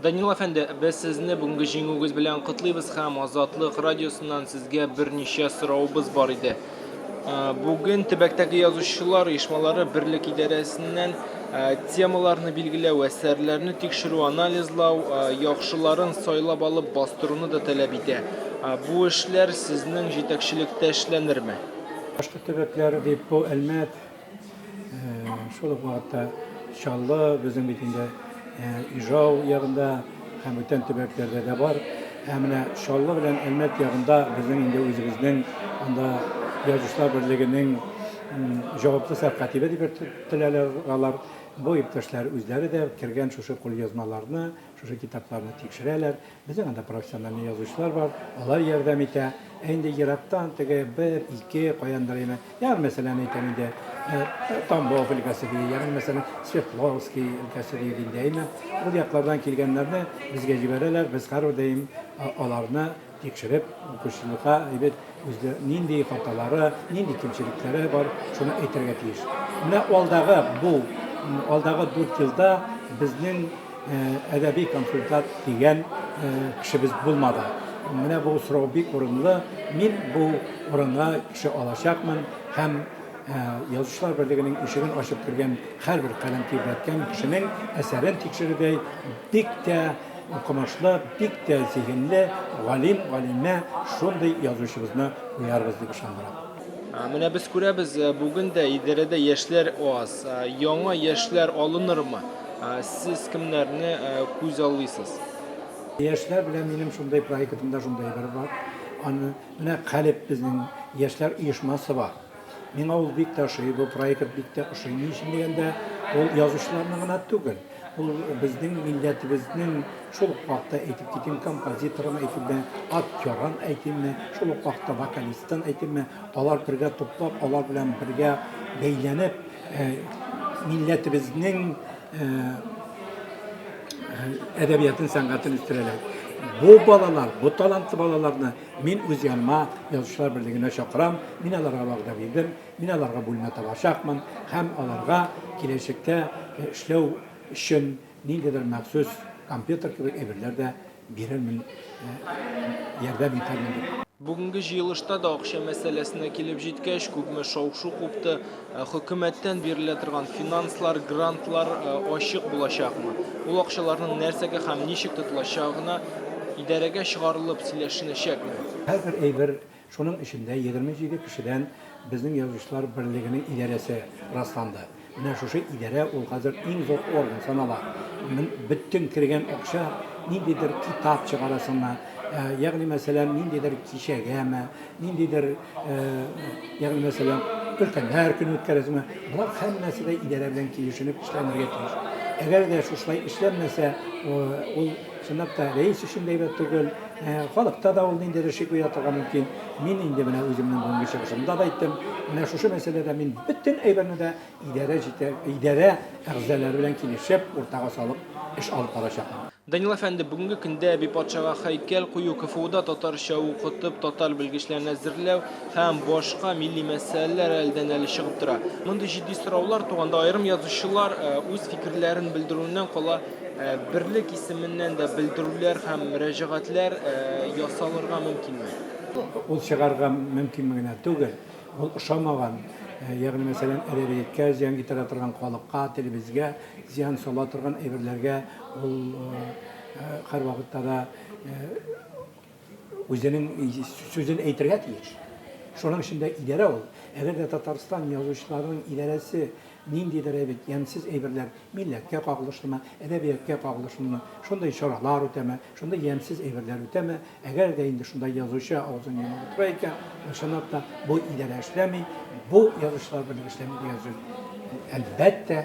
Данил әфәнде, без сезне бүгенге җиңүегез белән котлыйбыз һәм Азатлык радиосыннан сезгә берничә соравыбыз бар иде. Э, бүген төбәктәге язучылар оешмалары берлек идарәсеннән э, темаларны билгеләү, әсәрләрне тикшерү, анализлау, э, яхшыларын сайлап алып бастыруны да таләп итә. Бу эшләр сезнең җитәкчелектә эшләнерме? Башкорт төбәкләре дип бу Әлмәт, Шул ук вакытта Чаллы безнең бит инде Ижау ягында һәм бүтән төбәкләрдә дә бар. Ә менә Чаллы белән Әлмәт ягында безнең инде үзебезнең анда язучылар берлегенең җаваплы сәркатибе дип йөртеләләр алар. Бу иптәшләр үзләре дә кергән шушы кулъязмаларны, шушы китапларны тикшерәләр. Безнең анда профессиональный язучылар бар, алар ярдәм итә. Ә инде ерактан теге бер, ике каяндыр яме. Ягъни, мәсәлән, әйтәм инде, Тамбов өлкәсе ди, ягъни, мәсәлән, Свердловский өлкәсе ди инде, әйме. Ул яклардан килгәннәрне безгә җибәрәләр, без һәрдаим аларны тикшереп, укучылыкка әйбәт Үзле нинди хаталары, нинди кимчелекләре бар, шуны әйтергә тиеш. Менә алдагы бу, алдагы дүрт елда безнең әдәби консультант дигән кешебез булмады. Менә бу сорау бик урынлы. Мин бу урынга кеше алачакмын һәм язучылар берлегенең ишеген ачып кергән һәрбер каләм тибрәткән кешенең әсәрен тикшерүдәй бик тә Укымышлы, бик тә зиһенле галим, галимә шундый язучыбызны куярбыз дип ышандырам. Менә без күрәбез, э, бүген дә идарәдә яшьләр аз. Э, яңа яшьләр алынырмы? Э, сез кемнәрне күз аллыйсыз? Яшьләр белән минем шундый проектымда шундый бер бар. Аны менә Калеб безнең яшьләр оешмасы бар. Миңа ул бик тә ошый, бу проект бик тә ошый. Ни өчен дигәндә, ул язучыларның гына түгел, ул безнең милләтебезнең, шул ук вакытта әйтеп китим, композиторын әйтимме, актерын әйтимме, шул ук вакытта вокалистын әйтимме, алар бергә туплап, алар белән бергә бәйләнеп, милләтебезнең әдәбиятын, сәнгатен үстерәләр. Бу балалар, бу талантлы балаларны Мин үз яныма Язучылар берлегенә чакырам, мин аларга вәгъдә бирдем, мин аларга бүлмә табачакмын һәм аларга киләчәктә эшләү өчен ниндидер махсус компьютер кебек әйберләр дә бирермен, ярдәм итәрмен, дип. Бүгенге җыелышта да акча мәсьәләсенә килеп җиткәч, күпме шау-шу купты. Ә хөкүмәттән бирелә торган финанслар, грантлар ачык булачакмы? Ул акчаларның нәрсәгә һәм ничек тотылачагына идарәгә чыгарылып сөйләшенәчәкме? Һәрбер әйбер, шуның эчендә егерме җиде кешедән безнең Язучылар берлегенең идарәсе расланды. Менә шушы идарә ул хәзер иң зур орган санала. Бөтен кергән акча ниндидер китап чыгарасыңмы, ягъни мәсәлән, ниндидер кичәгәме, Ниндидер, ягъни мәсәлән, өлкәннәр көне үткәрәсеңме, болар һәммәсе дә идарә белән килешенеп эшләнергә тиеш. Әгәр дә шушылай эшләнмәсә, ул чынлап та рәис өчен дә әйбәт түгел, халыкта да ул ниндидер шик уята торырга мөмкин. Мин инде менә үземнең бүгенге чыгышымда да әйттем, менә шушы мәсьәләдә мин бөтен әйберне дә идарә җитә, идарә әгъзалары белән килешеп, уртага салып эш алып барачакмын. Данил әфәнде, бүгенге көндә әби патшага һәйкәл кую, КФУда татарча укытып, татар белгечләрен әзерләү һәм башка милли мәсьәләләр әледән-әле чыгып тора. Мондый җитди сораулар туганда аерым язучылар үз фикерләрен белдерүеннән кала, берлек исеменнән дә белдерүләр һәм мөрәҗәгатьләр ясалырга мөмкинме? Ул чыгарга мөмкинме генә түгел, ул ошамаган, ягъни мәсәлән, әдәбияткә зыян китерә торган халыкка, телебезгә, Зыян сала торган әйберләргә ул һәрвакытта да үзенең сүзен әйтергә тиеш. Шуның өчен дә идарә ул. Әгәр дә Татарстан язучыларының идарәсе ниндидер әйбит, ямьсез әйберләр, милләткә кагылышлымы, әдәбияткә кагылышлымы, шундый чаралар үтәме, шундый ямьсез әйберләр үтәме, Әгәр дә инде шунда язучы авызын йомып утыра икән, ул чынлап та бу идарә эшләми, бу язучылар берлеге эшләми дигән сүз. Әлбәттә,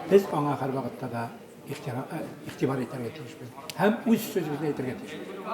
без аңа һәрвакытта да игътибар итәргә тиешбез һәм үз сүзебезне әйтергә тиешбез.